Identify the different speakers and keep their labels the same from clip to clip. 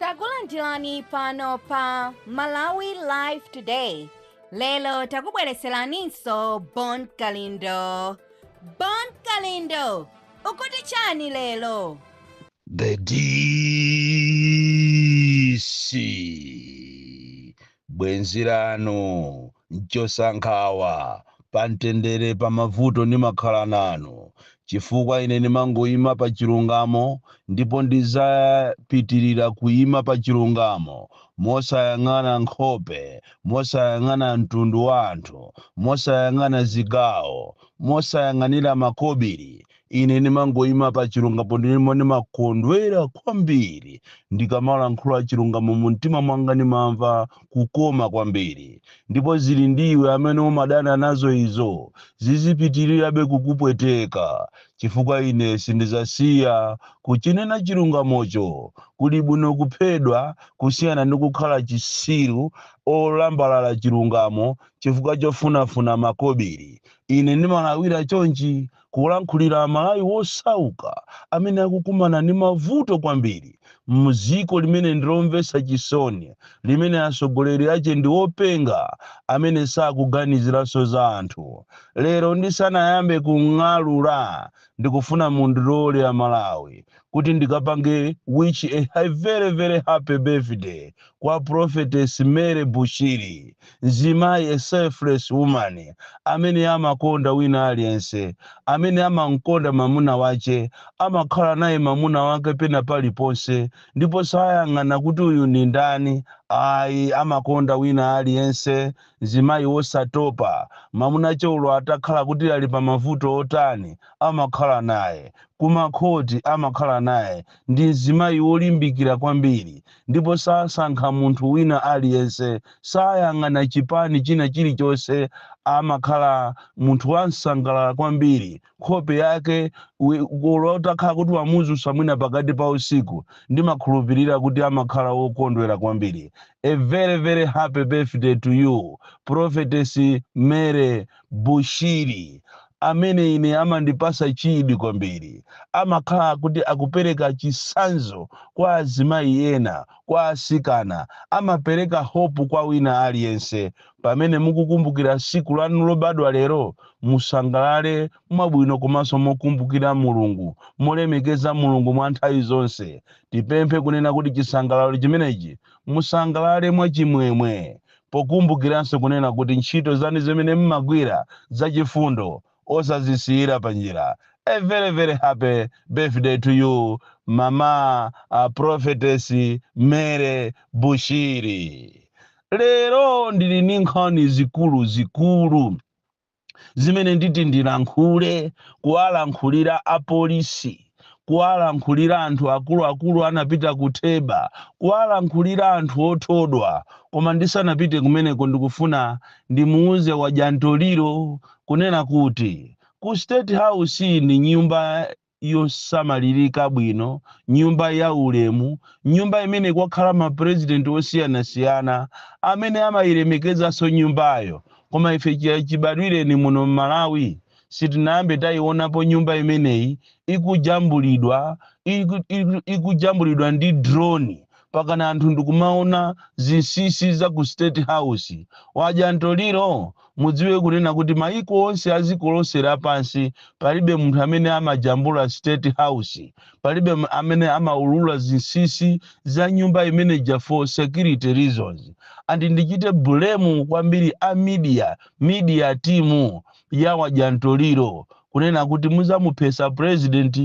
Speaker 1: takulandirani pano pa malawi live today lero takubwereseraninso bon kalindo bon kalindo ukuti chani lero The
Speaker 2: DC Bwenzi lanu nchosankhawa, pa mtendere pa mavuto ndimakhala nanu, chifukwa ine ndimangoima pa chilungamo ndipo ndizapitirira kuima pa chilungamo mosayang'ana nkhope, mosayang'ana mtundu wa anthu, mosayang'ana zigawo, mosayang'anira makobiri Ine ndimangoima pa chilungamo ndipo ndimakondwera kwambiri ndikamalankhula chilungamo mu mtima mwanga, ndimamva kukoma kwambiri. Ndipo zili ndi iwe amene umadana nazo izo, zizipitirirabe kukupweteka, chifukwa ine sindidzasiya kuchinena chilungamocho. Kuli bwino kuphedwa kusiyana ndi kukhala chisiru olambalala chilungamo chifukwa chofunafuna makobiri. Ine ndimalawira chonchi, kulankhulira Amalawi wosauka amene akukumana ndi mavuto kwambiri m'dziko limene ndi lomvesa chisoni, limene atsogoleri ache ndi openga amene sakuganiziranso za anthu. Lero ndisanayambe kung'alula ndikufuna mundilole Amalawi kuti ndikapange wish a very very happy birthday kwa prophetess Mary Bushiri, mzimayi a selfless woman amene amakonda wina aliyense, amene amankonda mamuna wache, amakhala naye mamuna wake pena paliponse ndipo sayang'ana kuti uyu ndi ndani ayi, amakonda wina aliyense Mzimayi wosatopa, mamuna ache olo atakhala kuti ali pa mavuto otani amakhala naye ku makhoti amakhala naye ndi mzimayi wolimbikira kwambiri ndipo sasankha munthu wina aliyense sayang'ana chipani china chilichonse amakhala munthu wansangalala kwambiri nkhope yake olo utakhala kuti wamuzusa mwina pakati pa usiku ndimakhulupirira kuti amakhala wokondwera kwambiri a very very happy birthday to you prophetess Mary Bushiri amene ine amandipasa chidi kwambiri amakhala kuti akupereka chisanzo kwa azimayi ena kwa asikana amapereka hope kwa wina aliyense Pamene mukukumbukira tsiku lanu lobadwa lero, musangalale mwabwino komanso mokumbukira Mulungu, molemekeza Mulungu mwa nthawi zonse. Tipemphe kunena kuti chisangalalo chimenechi musangalale mwa chimwemwe, pokumbukiranso kunena kuti ntchito zanu zimene mmagwira zachifundo osazisiyira panjira a very very happy birthday to you mama a prophetess Mary Bushiri lero ndili ndi nkhani zikulu zikulu zimene nditi ndilankhule kuwalankhulira apolisi kuwalankhulira anthu akuluakulu anapita ku theba kuwalankhulira anthu othodwa koma ndisanapite kumeneko ndikufuna ndimuuze wadya ntoliro kunena kuti ku state house ni nyumba yosamalirika bwino nyumba ya ulemu nyumba imene kwakhala mapurezidenti osiyanasiyana amene amayilemekezanso nyumbayo koma ife chibadwireni muno mmalawi sitinayambe tayiwonapo nyumba imeneyi ikujambulidwa iku- iku- ikujambulidwa ndi drone pakana anthu ndikumaona zinsisi za ku state house wadya mtoliro mudziwe kunena kuti mayiko onse a dziko lonse lapansi palibe munthu amene amajambula state house palibe m- amene amaulula zinsisi za nyumba imeneja for security reasons and ndichite blame kwambiri a media media team ya wadya ntoliro kunena kuti muzamuphesa president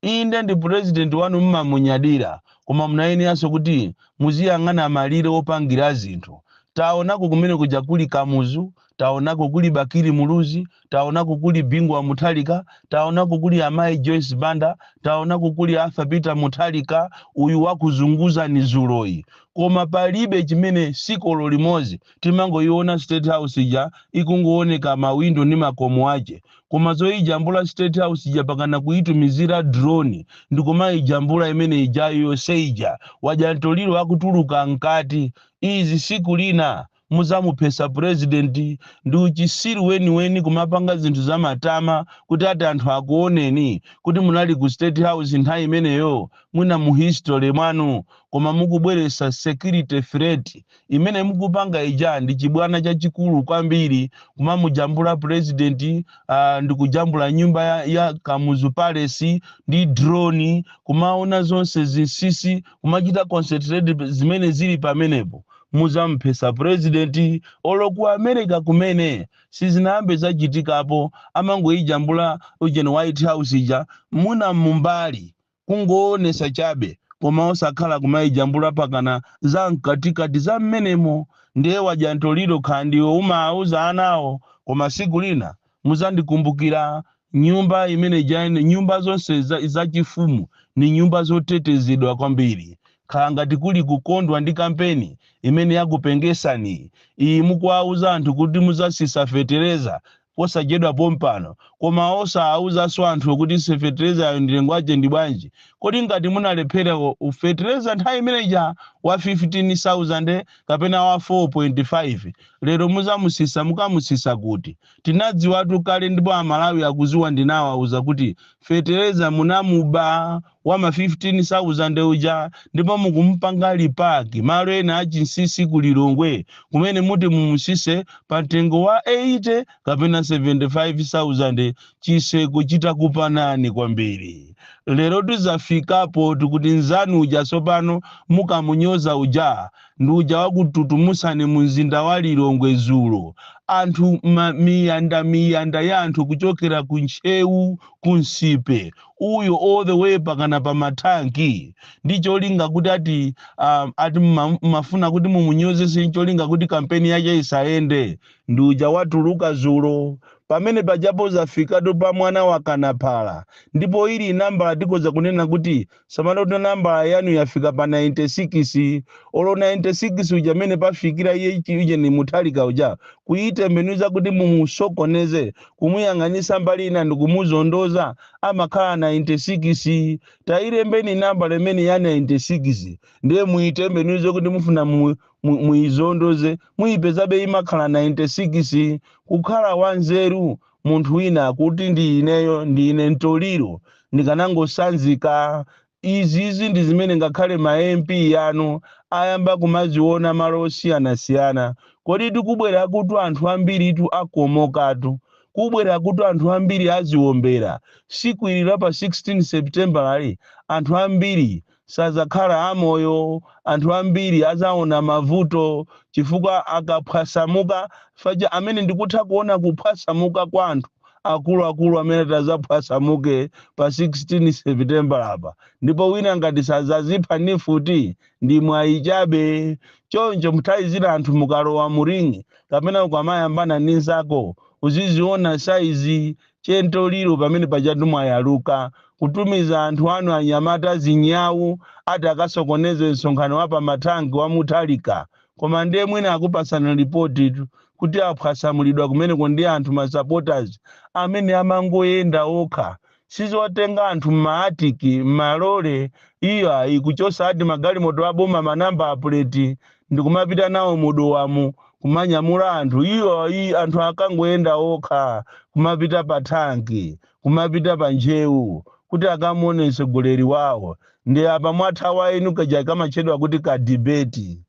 Speaker 2: inde ndi president wanu mmamunyadira koma munayeneranso kuti muziyang'ana malire opangira zinthu taonako kumene kuja kuli kamuzu taonako kuli bakili muluzi taonako kuli bingu wa mutharika taonako kuli amayi joyce banda taonako kuli arthur peter mutharika uyu wakuzunguzani zuloyi koma palibe chimene siku olo limodzi timangoiona state house ija ikungooneka ma window ndi makomo ache koma zoijambula state house ija pakana kuitumizira drone ndikumaijambula imene ijayo yonse ija wadya mtoliro akutuluka mkati izi siku lina muzamuphesa president ndi uchisiru weniweni kumapanga zinthu zamatama kuti ati anthu akuoneni kuti munali ku state house nthawi imeneyo mwina mu history mwanu koma mukubweresa security threat Imene mukupanga ija ndi chibwana chachikulu kwambiri, kumamujambula president uh, ndikujambula nyumba ya, ya Kamuzu Palace ndi drone, kumaona zonse zinsisi, kumachita concentrate zimene zili pamenepo muzamphesa president olo ku america kumene sizinayambe zachitikapo amangoyijambula ujeni white house ija muna mumbali Kungoonesa chabe koma osakhala kumaijambula pakana za mkatikati za mmenemo ndiye wadya ntoliro kha ndiwe umauza anawo koma siku lina muzandikumbukila nyumba imene ija nyumba zonse za za chifumu ni nyumba zotetezedwa kwambiri khala ngati kuli kukondwa ndi kampeni imene yakupengesani iyi mukuwauza anthu kuti muzasisa fetereza posachedwa pompano koma osawauzanso anthuwo kuti fetereza yo mtengo wake ndi bwanji kodi ngati munalephera u fetereza nthawi imene ija wa 15000 kapena wa 4.5 lero muzamusisa mukamusisa kuti tinadziwatu kale ndipo amalawi akuziwa ndinawauza kuti fetereza munamuba wa ma 15,000 uja ndipo mukumupanga lipaki malo ena achinsisi ku Lilongwe kumene muti mumutsitse pa mtengo wa 80 kapena 75,000 chiseko chitakupanani kwambiri. Lero tizafikapo tikuti nzanu uja tsopano mukamunyoza uja ndi uja wakututumusani mu mzinda wa Lilongwe dzulo. Anthu ma miyanda miyanda ya anthu kuchokera ku Ntcheu ku Nsipe uyu all the way pakana pa mathanki ndi cholinga kuti ati um, ati mma- mmafuna kuti mumunyozese ncholinga kuti kampeni yake isayende ndi uja watuluka zulo pamene pajapo zafikatu pa mwana wa kanaphala ndipo ili nambala tikoza kunena kuti samalani nambala yanu yafika pa 96 olo 96 uja amene pafikira iye ichi- uje ni Mutharika uja kuyitembenuza kuti mumusokoneze kumuyang'anisa mbali ina ndikumuzondoza amakhala 96 tailembeni nambala imene ya 96 ndiye muitembenuze kuti mufuna mu, mu, muizondoze muipezabe imakhala 96 kukhala wanzeru munthu wina akuti ndi ineyo ndi ine Ntoliro ndikanangosanzika Izizi ndi zimene ngakhale ma MP anu ayamba kumaziona malo osiyanasiyana. Kodi tikubwerakutu anthu ambiritu akomokatu. Kubwerakutu anthu ambiri aziombera. Tsiku ili la pa 16 September'li anthu ambiri sadzakhala amoyo. Anthu ambiri adzaona mavuto chifukwa akaphwasamuka paja amene ndikutha kuona kuphwasamuka kwa anthu. akuluakulu amene atazaphwasamuke pa 16 Sepitembala-pa ndipo wina ngati sazazipha ndi mfuti ndi mwayi chabe choncho nthawi zina anthu mukalowa mu ring kapena ukamayambana ndi nzako uziziona size che Ntoliro pamene pajatu mwayaluka kutumiza anthu anu anyamata azinyau ati akasokoneze msonkhano wa pa mathanki wa Mutharika koma ndiye mwina akupatsani lipotitu kuti aphwasamulidwa kumeneko ndi anthu ma supporters amene amangoyenda okha sizotenga anthu m'maatiki m'malole iyo ayi kuchosa ati magalimoto aboma manamba apuleti ndikumapita nawo mu Dowamu kumanyamula anthu iyo ayi anthu akangoyenda okha kumapita pa thanki kumapita pa Njewa kuti akamuwone mtsogoleri wawo ndiye apa mwathawa inu kaja kamatchedwa kuti ka debate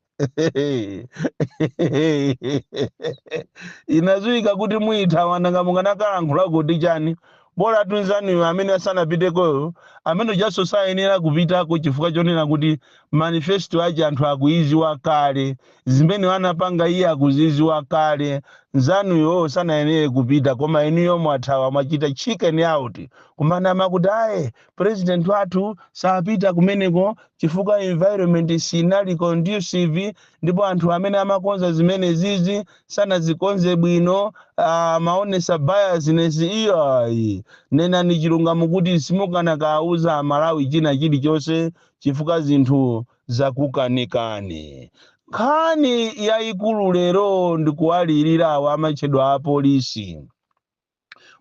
Speaker 2: inadziwika kuti muithawa nanga mukanakalankhula kuti chani bola anzanuyo amene asanapitekoyo amene ujaso sayenera kupitako chifukwa chonena kuti manifesto ake anthu akuiziwa kale Zimene anapanga iye akuziziwa kale. Nzanuyo sanayenere kupita koma inuyo mwathawa mwachita chicken out kumanama kuti ayi president wathu sapita kumeneko chifukwa environment sinali conducive ndipo anthu amene amakonza zimenezizi sanazikonze bwino amaonesa biasness iyayi nenani chilungamo kuti simukanakauza amalawi china chilichonse chifukwa zinthu zakukanikani. Nkhani yaikulu lero ndikuwalirira awa amatchedwa apolisi.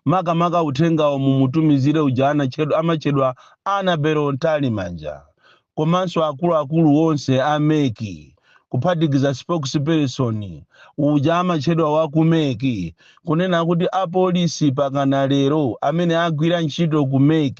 Speaker 2: Makamaka uthengawo mumutumizire uja amatchedwa Annabel Mtalimanja komanso akuluakulu onse a mec kuphatikiza spokesperson uja amatchedwa wa ku mec kunena kuti apolisi pakana lero amene agwira ntchito ku mec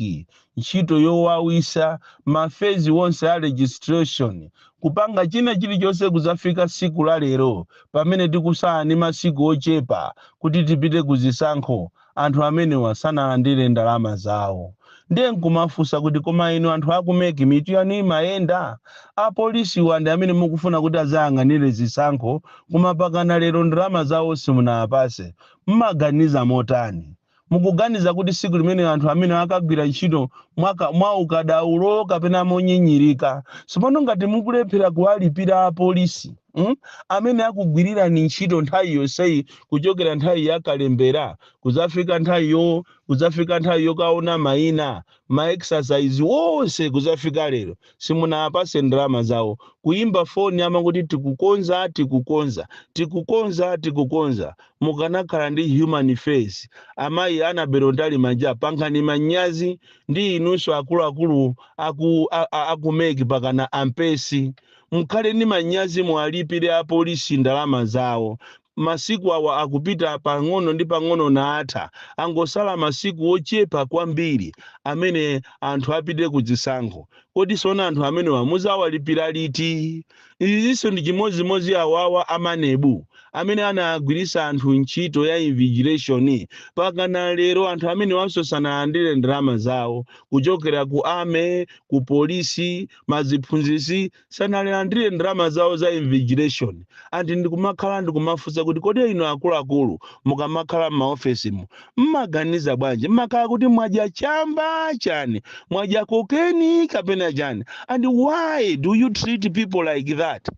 Speaker 2: ntchito yowawisa, ma phase onse a registration, kupanga china chilichonse kuzafika siku la lero pamene tikusala ndi masiku ochepa kuti tipite ku zisankho anthu amenewa sanalandire ndalama zawo. Ndiye nkumafunsa kuti koma inu anthu aku mec mitu yanu imayenda? Apolisiwa ndi amene mukufuna kuti azayang'anile zisankho koma pakana lero ndalama zawo simunawapase. Mumaganiza motani? Mukuganiza kuti tsiku limene anthu amenewa akagwira ntchito mwa ka, mwa ukadaulo kapena monyinyirika, tsopano ngati mukulephera kuwalipira apolisi mm, amene akugwirirani ntchito nthawi yonseyi kuchokera nthawi ya kalembera kudzafika nthawi yo kudzafika nthawi yokaona maina ma exercise onse kuzafika lero simunawapase ndalama zawo kuyimba foni amangoti tikukonza tikukonza tikukonza tikukonza mukanakhala ndi human face amayi Annabel Mtalimanja pangani manyazi ndi inunso akuluakulu aku, a, a, aku mec pakana a Mpesi mukhale ndi manyazi muwalipire apolisi ndalama zawo Masiku awa akupita pang'ono ndi pang'ono nkutha. Angosala masiku ochepa kwambiri amene anthu apite ku zisankho. Kodi sono anthu amenewa muzawalipira liti? Izizinso ndi chimodzimodzi awawa a MANEB amene anawagwiritsa anthu ntchito ya invigilation pakana lero anthu amenewanso sanalandire ndalama zawo kuchokera ku army, ku polisi, maziphunzitsi. sanalandire ndalama zawo za invigilation and ndikumakhala ndikumafunsa kuti kodi inu akuluakulu mukamakhala m'maofesimu mmaganiza bwanji mmakhala kuti mwadya chamba chani mwadya kokeni kapena chani and why do you treat people like that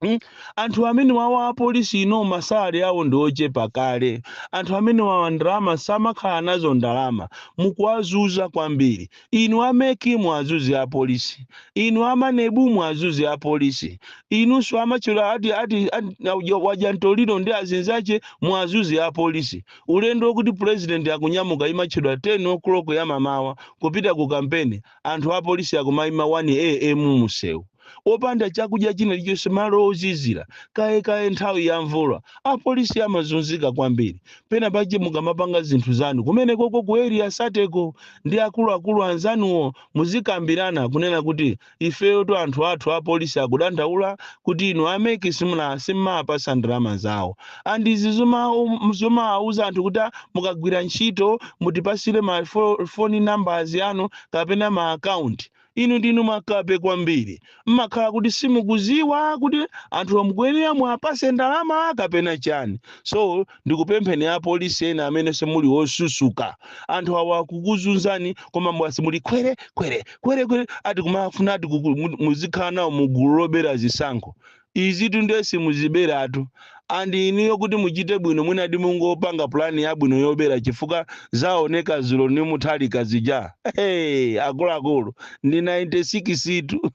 Speaker 2: Hmm? Anthu amene wawa apolisi ino masale awo ndi ochepa kale. Anthu amene wawa ndalama samakhala nazo ndalama. Mukuwazuza kwambiri. Inu a mec muwazuze apolisi. Inu a manebu muwazuze apolisi. Inunso a matchedwa ati ati ati wadya mtoliro ndi azinzache muwazuze apolisi. Ulendo okuti president akunyamuka imatchedwa 10:00 ya mamawa kupita ku kampeni. anthu apolisi akumaima 1AM mumsewu, opanda chakudya china chilichonse, malo ozizira, kaye kaye nthawi ya mvula, apolisi amazunzika kwambiri. Pena pache mukamapanga zinthu zanu kumenekoko ku Area 30 ko ndi akuluakulu anzanuwo, muzikambirana kunena kuti ifeyotu anthu athu apolisi akudandaula kuti inu a mec simuna simmapatsa ndalama zawo. and izi zoma um, zomauza anthu kuti "Ah, mukagwira ntchito mutipasire ma fo- phone numbers yanu kapena ma account inu ndinu makape kwambiri mmakhala kuti simukuziwa kuti anthu amukuyenera muapase ndalama kapena chani so ndikupempheni apolisi ena amene simuli osusuka anthu awa akukuzunzani koma mmasi muli kwere kwere kwere kwere ati kumafuna ati kuku- mu- muzikhala nawo mu gulu lobera zisankho Izitu ndiye simuziberatu and inuyo kuti muchite bwino mwinadi mungopanga plan yabwino yobera chifukwa zaoneka dzulo ndi Mutharika zija hey, akuluakulu ndi 96 tu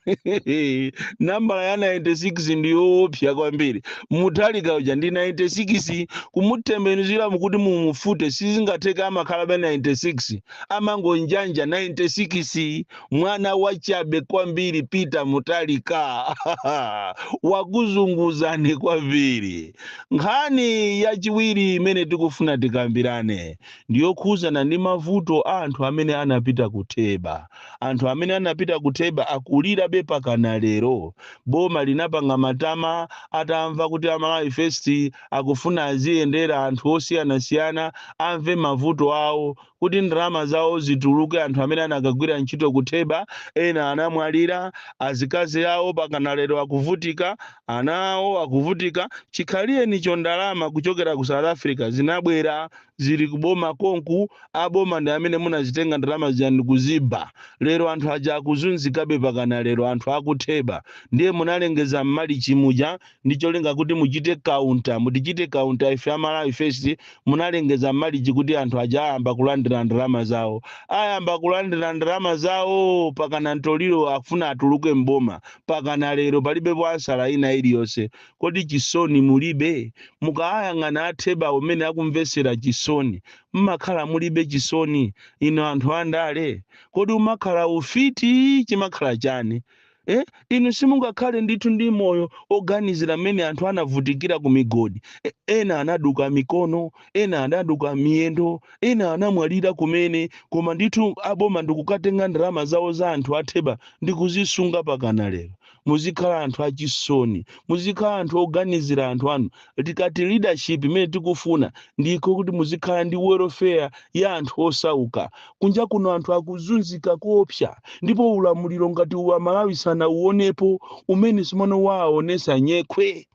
Speaker 2: nambala ya 96 ndi yoophya kwambiri Mutharika uja ndi 96 kumutembenuzira mukuti mumufute sizingatheka amakhalabe 96 amangonjanja 96 mwana wachabe kwambiri peter mutharika wakuzunguzani kwambiri nkhani yachiwiri imene tikufuna tikambirane ndiyokhuzana ndi mavuto a anthu amene anapita kutheba anthu amene anapita kutheba akulirabe pakana lero boma linapanga matama atamva kuti amalawi first akufuna aziyendera anthu osiyanasiyana amve mavuto awo kuti ndalama zawo zituluke anthu amene anakagwira ntchito ku theba ena anamwalira azikazi awo pakana lero akuvutika ana awo akuvutika chikhaliyenicho ndalama kuchokera ku south africa zinabwera zili kuboma konku aboma ndi amene munazitenga ndalama zija n'kuziba lero anthu aja akuzunzikabe pakana lero anthu akutheba ndiye munalengeza mmalichi muja ndi cholinga kuti muchite kaunta mutichite kaunta ife a malawi first munalengeza mmalichi kuti anthu aja ayamba kulandira ndalama zawo ayamba kulandira ndalama zawo pakana mtoliro akufuna atuluke mboma pakana lero palibe ansala ina iliyonse kodi chisoni mulibe mukayang'ana atheba umene akumvesera chisoni mmakhala mulibe chisoni inu anthu andale kodi umakhala ufiti chimakhala chani Eh? Inu simungakhale ndithu ndi moyo oganizira mmene anthu anavutikira ku migodi. E- Ena anaduka mikono, ena anaduka miyendo, ena anamwalira kumene, koma ndithu aboma ndikukatenga ndalama zawo za anthu atheba ndi kuzisunga pakana lero. Muzikhala anthu achisoni, muzikhala anthu oganizira anthu anu. tikati leadership imene tikufuna ndi yoti muzikhala ndi welfare ya anthu osauka kunja kuno anthu akuzunzika koopsa ndipo ulamuliro ngati uwu amalawi sanauonepo umene simunawaonesa nyekhwe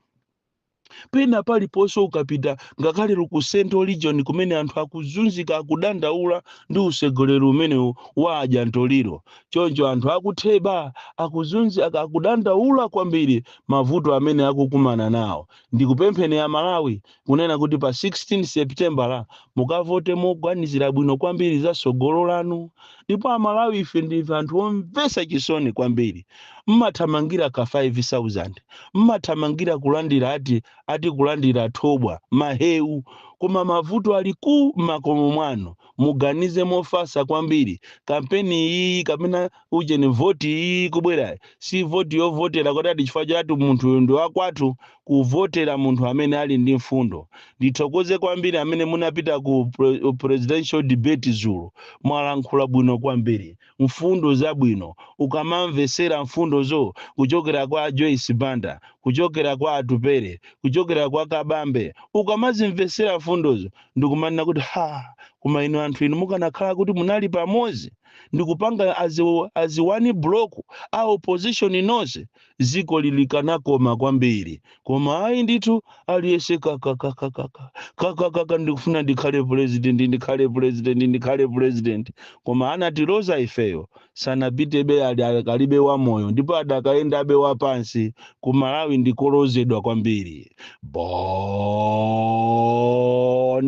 Speaker 2: pena paliponse ukapita ngakhale ku central region kumene anthu akuzunzika akudandaula ndi utsogoleri umenewu wa adyantoliro choncho anthu akutheba akuzunzi ak- akudandaula kwambiri mavuto amene akukumana nawo. Ndikupempheni a Malawi kunena kuti pa 16 Sepitembala mukavote moganizira bwino kwambiri za tsogolo lanu. Ndipo a Malawi ife ndife anthu omvetsa chisoni kwambiri. Mmathamangira ka 5,000, mmathamangira kulandira ati, ati kulandira thobwa, maheu. Koma mavuto ali ku makomo mwanu. Muganize mofatsa kwambiri. Kampeni iyiyi kapena ujeni voti iyi ikubwerayi si voti yovotera kuti ati chifukwa chati munthuyu ndi wakwathu kuvotera munthu amene ali ndi mfundo ndithokoze kwambiri amene munapita ku pre- presidential debate dzulo mwalankhula bwino kwambiri mfundo zabwino ukamamvesera mfundozo kuchokera kwa joyce banda kuchokera kwa atupere kuchokera kwa kabambe ukamazimvesera mfundozo ndikumanena kuti ha koma inu anthu inu mukanakhala kuti munali pamodzi ndikupanga as, as one block a opposition nonse ziko ili likanakoma kwambiri koma ayi ndithu aliyese kakakakakaka kakakaka ndikufuna ndikhale president ndikhale president ndikhale president koma anatiloza ifeyo sanapitebe akalibe wamoyo ndipo adakayendabe wapansi ku malawi ndikolozedwa kwambiri bon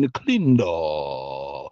Speaker 2: kalindo